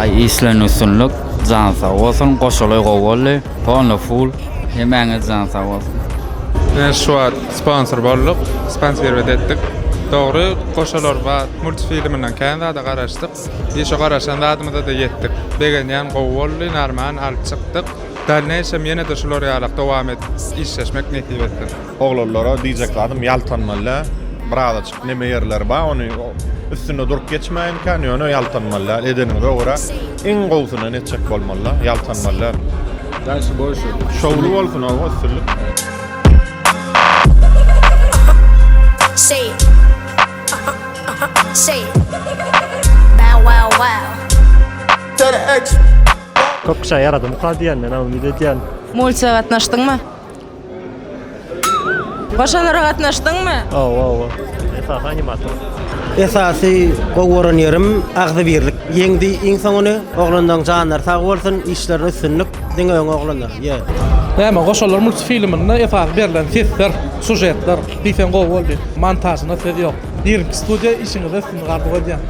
Aý işleň üstünlik jan sag bolsun goşaly gowy boldy polny full hemäňiz jan sag bolsun. Men şu wagt sponsor bolduk sponsirbet etdik dogry goşalar bar multfilminden kän zada garaşdyk işo garaşan zadymyzada ýetdik begenýän gowy boldy narman alyp çykdyk. Dalneýşem ýene-de şular ýalak dowam et işleşmek nesip etsin. Oglanlara diýjek zadym ýaltanmalydä birazaçyk neme ýerleri bar ony üstünde durup geçmäýinkä ýöne ýaltanmalydä edeniňize görä iň gowsyny etjek bolmalydä ýaltanmalydä. Şowly bolsun oba üstünlik. Köp kişä ýaradymyka diýen men umyt edýän. Multika gatnaşdyňmy? Goşalara gatnaşdyňmy? Owa owa. Esasy animator. Esasy gowy gören ýerim agzybirlik. Ýeňdi iň soňuny. Oglanlaň janlary sag bolsun, işlerine üstünlik. Diňe öňe oglanlar. Ýe. Näme Goşalar multfilminde esasy berlen sesler, sujetler diýseň gowy boldy. Montažyna söz ýok. Irki studiýa işiňizde üstünlik arzuw edýän.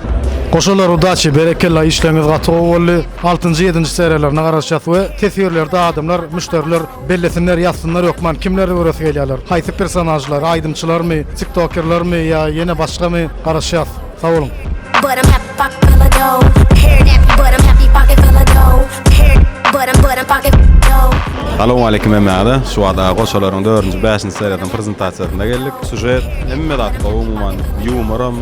Goşalar udaçi berekella işleriňiz gaty gowy boldy altynjy ýedinji seriýalaryna garaşýas we teswirlerde adamlar müşderiler bellesinler ýazsynlar hökman kimleri göresi gelýärler haýsy personažlar aýdymçylarmy tiktokerlermi ýa ýene başgamy garaşýas sag boluň. Pocket full of dough, hair nappy but I'm happy. Pocket full of dough, hair but I'm but I'm pocket full of dough. Salowmaleýkim hemmäňize. Şu wada goşalaryň dördünji, bäşinji seriýasynyň prezentasiýasyna geldik. Sužet, hemme zat gowy umuman, ýumoram.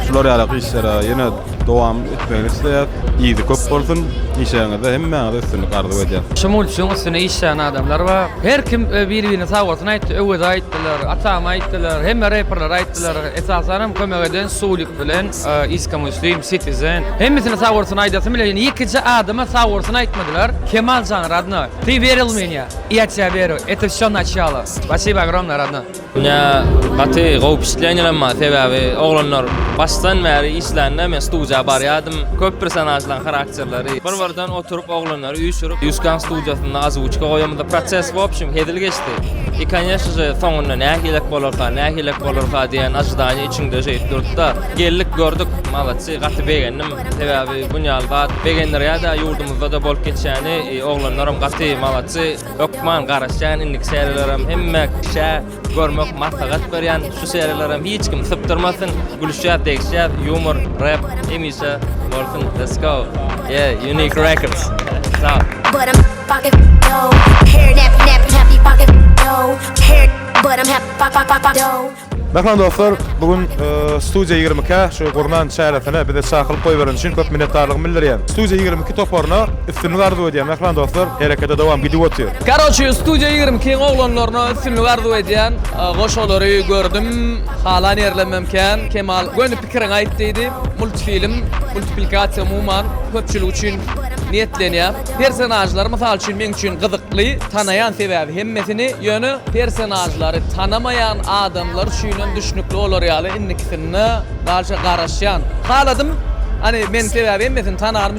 Şular ýaly işlere ýene dowam etmegini isleýäs. Yzy köp bolsun. Işiňizde hemmäňize üstünlik arzuw edýän. Şu multfiň üstüne işlän adamlar bar. Her kim ö biri birine sagbolsun aýtdy. Öweze aýtdylar, Atama aýtdylar, hemme reperlere aýtdylar. Esasanam kömek eden Sulik bilen Iska Muslim, Citizen. Hemmesine sag bolsun aýdasym bile ýöne ýekeje adama sag bolsun aýtmadylar. Kemal jan radnoý. Ty weril menya, i ýa tya weru, eto vsyo naçýalo. Spasiba ogromnoý radnoý. Ýa gaty gowy wpişitlenýenem bar sebäbi oglanlar başdan bäri işlände men studiýa barýadym köp personažlaň harakterleri bir birden oturyp oglanlar. Üýşürip, Üskan studiýasynda ozwuçka goýamyzda proses w opşum hezil geçdi. I koneşno je, soňunda nähilek bolarka, nähilek bolarka diýen ojidaniýe içiňde şeýdip durupda. Geldik, gördük, maloçsy, gaty begendim. Sebäbi bunýaly zat begendirýär-de, ýurdumyzda-da bolup geçýäni, oglanlaram gaty maloçsy, hökman garaşýan indiki seriýalarem hemme kişä. Görmek maslahat berýän şu seriýalaram hiç kim sypdyrmasyn. Gülüşýär, degişýär, yumor, rap hemişe bolsun. Let's go. Yeah, unique records. Sağ. But I'm fucking no. Hair nap nap happy fucking no. Hair but I'm happy fuck fuck fuck no. Merhaba dostlar, bugün e, Studio 22 şu gurnan çäresine bize çakylyk goýberen üçin köp minnetdarlygymy bildirýän. Studio 22 toparyna Üstünlik arzuw edýän mähriban dostlar herekete dowam gidip otyr. Karoçi studiýa ýigrimi ikiň oglanlaryna üstünlik arzuw edýän goş olary gördüm halan ýerlemem kän Kemal göni pikiriňi aýt diýdi multfilm multiplikasiýa umuman köpçülik üçin niýetlenýär personažlar mysal üçin meň üçin gyzykly tanaýan sebäbi hemmesini ýöne personažlary tanamaýan adamlar üçinem düşnükli bolar ýaly indikisinde dalşa garaşýan haladym hany men sebäbi hemmesini tanarym.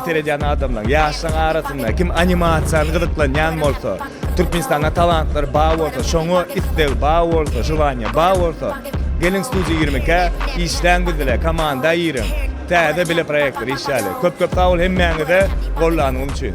Seredýän adamlaň, ýaşlaň arasynda kim animasiýany gyzyklanýan bolsa, Türkmenistanda talantlary bar bolsa, şoňa isleg bar bolsa, želaniýa bar bolsa, geliň Studio ýigrimi ikä, işläň biz bile, komanda giriň. Täze bile proýektler işläli. Köp-köp sag bol hemmäňize gollanyň üçin.